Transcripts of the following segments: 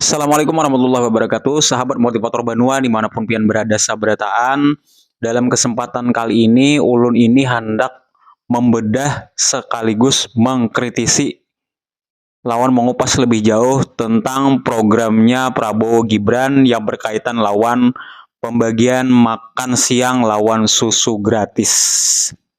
Assalamualaikum warahmatullahi wabarakatuh Sahabat motivator Banua dimanapun pian berada saberataan Dalam kesempatan kali ini ulun ini hendak membedah sekaligus mengkritisi lawan mengupas lebih jauh tentang programnya Prabowo Gibran yang berkaitan lawan pembagian makan siang lawan susu gratis.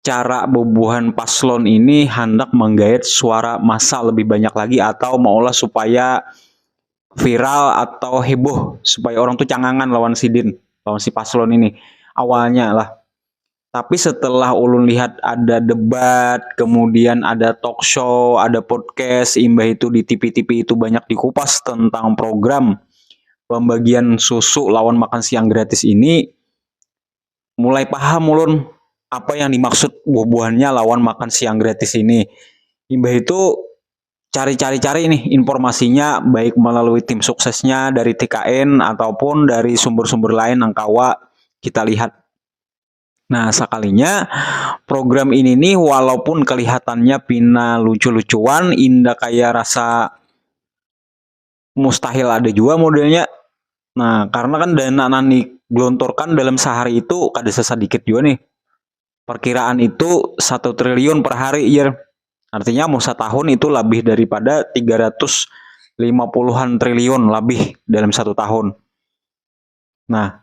cara bubuhan paslon ini hendak menggait suara masa lebih banyak lagi atau maulah supaya viral atau heboh supaya orang tuh cangangan lawan sidin lawan si paslon ini awalnya lah tapi setelah ulun lihat ada debat kemudian ada talk show ada podcast imbah itu di TV-TV itu banyak dikupas tentang program pembagian susu lawan makan siang gratis ini mulai paham ulun apa yang dimaksud buah-buahannya lawan makan siang gratis ini. Imbah itu cari-cari-cari nih informasinya baik melalui tim suksesnya dari TKN ataupun dari sumber-sumber lain yang kawa kita lihat. Nah, sekalinya program ini nih walaupun kelihatannya pina lucu-lucuan, indah kayak rasa mustahil ada jua modelnya nah karena kan dana nang digelontorkan dalam sehari itu kada sesadikit jua nih perkiraan itu satu triliun per hari ya artinya mau setahun itu lebih daripada tiga ratus lima puluhan triliun lebih dalam satu tahun nah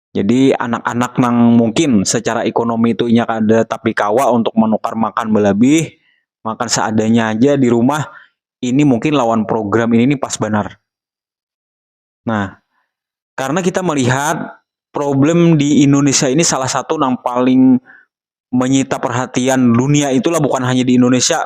Jadi anak-anak nang mungkin secara ekonomi itu inya kada tapi kawa untuk menukar makan belabih, makan seadanya aja di rumah, ini mungkin lawan program ini nih pas banar. Nah, karena kita melihat problem di Indonesia ini salah satu nang paling menyita perhatian dunia itulah bukan hanya di Indonesia.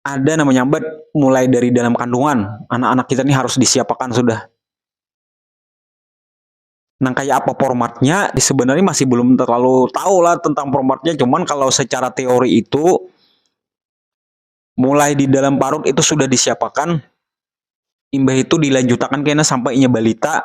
ada nama nyambat mulai dari dalam kandungan anak-anak kita ini harus disiapakan sudah nang kayak apa formatnya sebenarnya masih belum terlalu tahu lah tentang formatnya cuman kalau secara teori itu mulai di dalam parut itu sudah disiapakan imbah itu dilanjutakan kena sampainya balita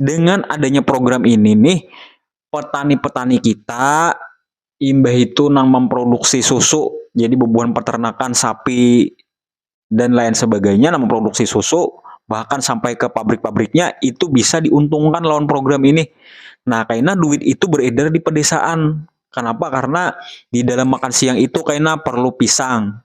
dengan adanya program ini nih petani-petani kita imbah itu nang memproduksi susu jadi bebuhan peternakan sapi dan lain sebagainya nang memproduksi susu bahkan sampai ke pabrik-pabriknya itu bisa diuntungkan lawan program ini nah kaina duit itu beredar di pedesaan kenapa karena di dalam makan siang itu kaina perlu pisang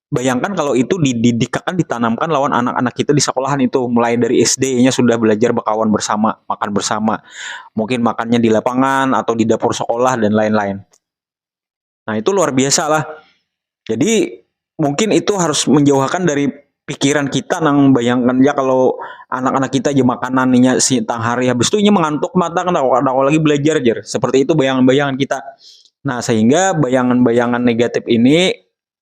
bayangkan kalau itu dididikakan ditanamkan lawan anak-anak kita di sekolahan itu mulai dari SD-nya sudah belajar berkawan bersama makan bersama mungkin makannya di lapangan atau di dapur sekolah dan lain-lain nah itu luar biasa lah jadi mungkin itu harus menjauhkan dari pikiran kita nang bayangkan ya kalau anak-anak kita aja makanannya si tang hari habis itu nya mengantuk mata kena lagi belajar jer seperti itu bayangan-bayangan kita nah sehingga bayangan-bayangan negatif ini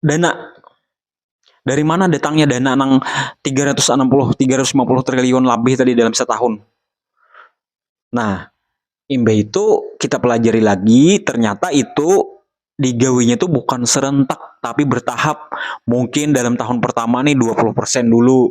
dana dari mana datangnya dana nang 360 350 triliun lebih tadi dalam setahun nah imbah itu kita pelajari lagi ternyata itu digawinya itu bukan serentak tapi bertahap mungkin dalam tahun pertama nih 20% dulu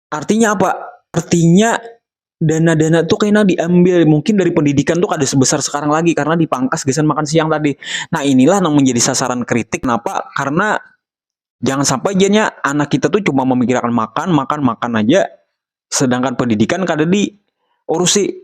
Artinya apa? Artinya dana-dana tuh kena diambil mungkin dari pendidikan tuh kada sebesar sekarang lagi karena dipangkas gasan makan siang tadi. Nah inilah yang menjadi sasaran kritik. Kenapa? Karena jangan sampai jadinya anak kita tuh cuma memikirkan makan, makan, makan aja. Sedangkan pendidikan kada diurusi.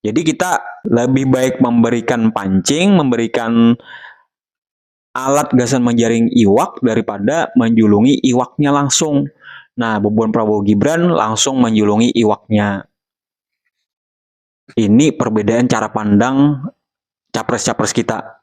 Jadi kita lebih baik memberikan pancing, memberikan alat gasan menjaring iwak daripada menjulungi iwaknya langsung. Nah, bubuhan Prabowo Gibran langsung menjulungi iwaknya. Ini perbedaan cara pandang capres-capres kita.